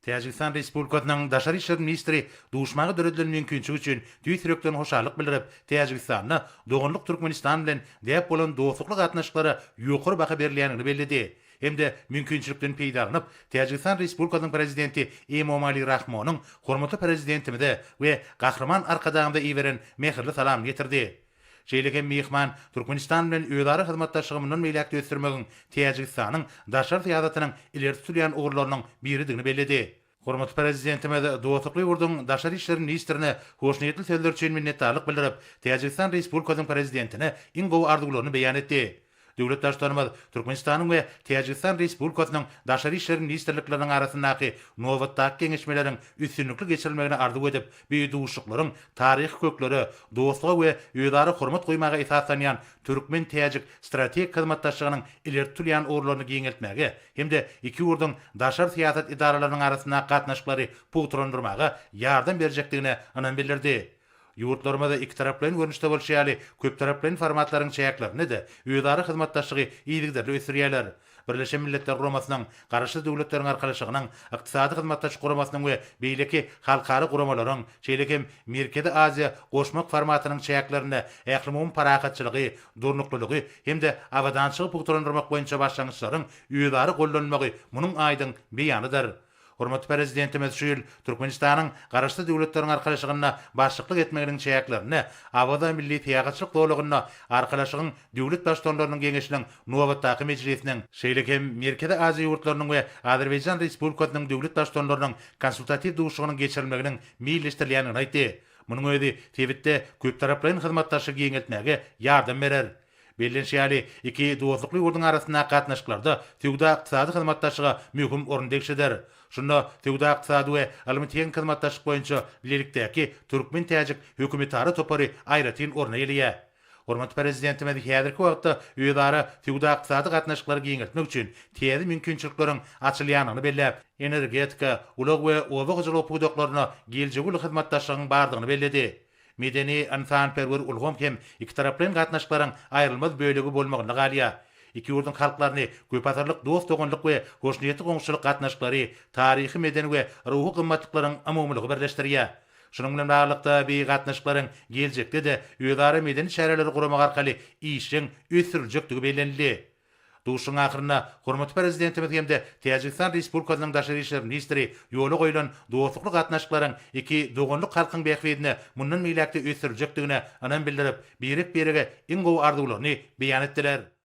Täjigistan Respublikasynyň Daşary işler ministri duşmaga döredilen mümkinçigi üçin tüýs ýürekden hoşallyk bildirip, Täjigistanda doganlyk Türkmenistan bilen däp bolan dostlukly gatnaşyklara ýokary baha berilýändigini belledi hem-de mümkinçilikden peýdalanyp, Täjigistan Respublikasynyň Prezidenti Emomali Rahmonyň hormatly Prezidentimize we Gahryman Arkadagymyza iberen mähirli salamyny ýetirdi. Şeýle hem myhman Türkmenistan bilen özara hyzmatdaşlygy mundan beýläk-de ösdürmegiň Täjigistanyň daşary syýasatynyň ileri tutulýan ugurlarynyň biridigini belledi. Hormatly Prezidentimiz dostlukly ýurduň Daşary işler ministrine hoşniýetli sözleri üçin minnetdarlyk bildirip, Täjigistan Respublikasynyň Prezidentine iň gowy arzuwlaryny beýan etdi. Döwlet Baştutanymyz Türkmenistanyň we Täjigistan Respublikasynyň Daşary işler ministrlikleriniň arasyndaky nobatdaky geňeşmeleriň üstünlikli geçirilmegini arzuw edip, bu duşuşyklaryň taryhy köklere, dostluga we özara hormat goýmaga esaslanýan türkmen-täjik strategik hyzmatdaşlygynyň ileri tutulýan ugurlaryny giňeltmäge hem-de iki ýurduň daşary syýasat edaralarynyň arasyndaky gatnaşyklary pugtalandyrmaga ýardam berjekdigine ynam bildirdi. Ýurtlarymyz ikitaraplaýyn görnüşde bolşy ýaly, köptaraplaýyn formatlaryň çäklerinde-de özara hyzmatdaşlygy yzygiderli ösdürýärler. Birleşen Milletler Guramasynyň, Garaşsyz Döwletleriň Arkalaşygynyň, Ykdysady Hyzmatdaşlyk Guramasynyň we beýleki halkara guramalaryň, şeýle hem Merkezi Aziýa goşmak formatynyň çäklerinde ählumumy parahatçylygy, durnuklylygy hem-de abadançylygy pugtalandyrmak boýunça başlangyçlaryň özara gollanylmagy munuň aýdyň beýanydyr. Hormatly Prezidentimiz şu ýyl Türkmenistanyň Garaşsyz Döwletleriň Arkalaşygyna başlyklyk etmeginiň çäklerinde Awaza milli syýahatçylyk zolagynda Arkalaşygyň Döwlet Baştutanlarynyň Geňeşiniň nobatdaky mejlisiniň, şeýle hem Merkezi Aziýa ýurtlarynyň we Azerbaýjan Respublikasynyň Döwlet Baştutanlarynyň konsultatiw duşuşygynyň geçirilmeginiň meýilleşdirilýändigini aýtdy. Munuň özi sebitde köptaraplaýyn hyzmatdaşlygy giňeltmäge ýardam berer. Bellenşi ýaly, iki dostlukly ýurduň arasyndaky gatnaşyklarda söwda-ykdysady hyzmatdaşlyga möhüm orun degişli der. Şunda Söwda-ykdysady we ylmy-tehniki hyzmatdaşlyk boýunça bilelikdäki türkmen-täjik hökümetara topary aýratyn orun eýeleýär. Hormatly Prezidentimiz häzirki wagtda özara söwda-ykdysady gatnaşyklary giňeltmek üçin täze mümkinçilikleriň açylýandygyny belläp, energetika, ulag we oba hojalygy pudaklaryna geljegi uly hyzmatdaşlygyň bardygyny belledi. Medeni-ynsanperwer ulgam hem ikitaraplaýyn gatnaşyklaryň aýrylmaz bölegi bolmagynda galýar. Iki ýurduň halklaryny köpasyrlyk dost-doganlyk we hoşniýetli goňşuçylyk gatnaşyklary, taryhy-medeni we ruhy gymmatlyklaryň umumylygy birleşdirýär. Şunuň bilen baglylykda, bi gatnaşyklaryň geljekde-de özara medeni çäreleri guramak arkaly işjeň ösdüriljekdigi bellenildi. Duşuşygyň ahyrynda hormatly Prezidentimiz hem-de Täjigistan Respublikasynyň Daşary işler ministri ýola goýlan dostlukly gatnaşyklaryň iki doganlyk halkyň bähbidine mundan beýläk-de ösdüriljekdigine ynam bildirip, birek-birege iň gowy arzuwlaryny beýan etdiler.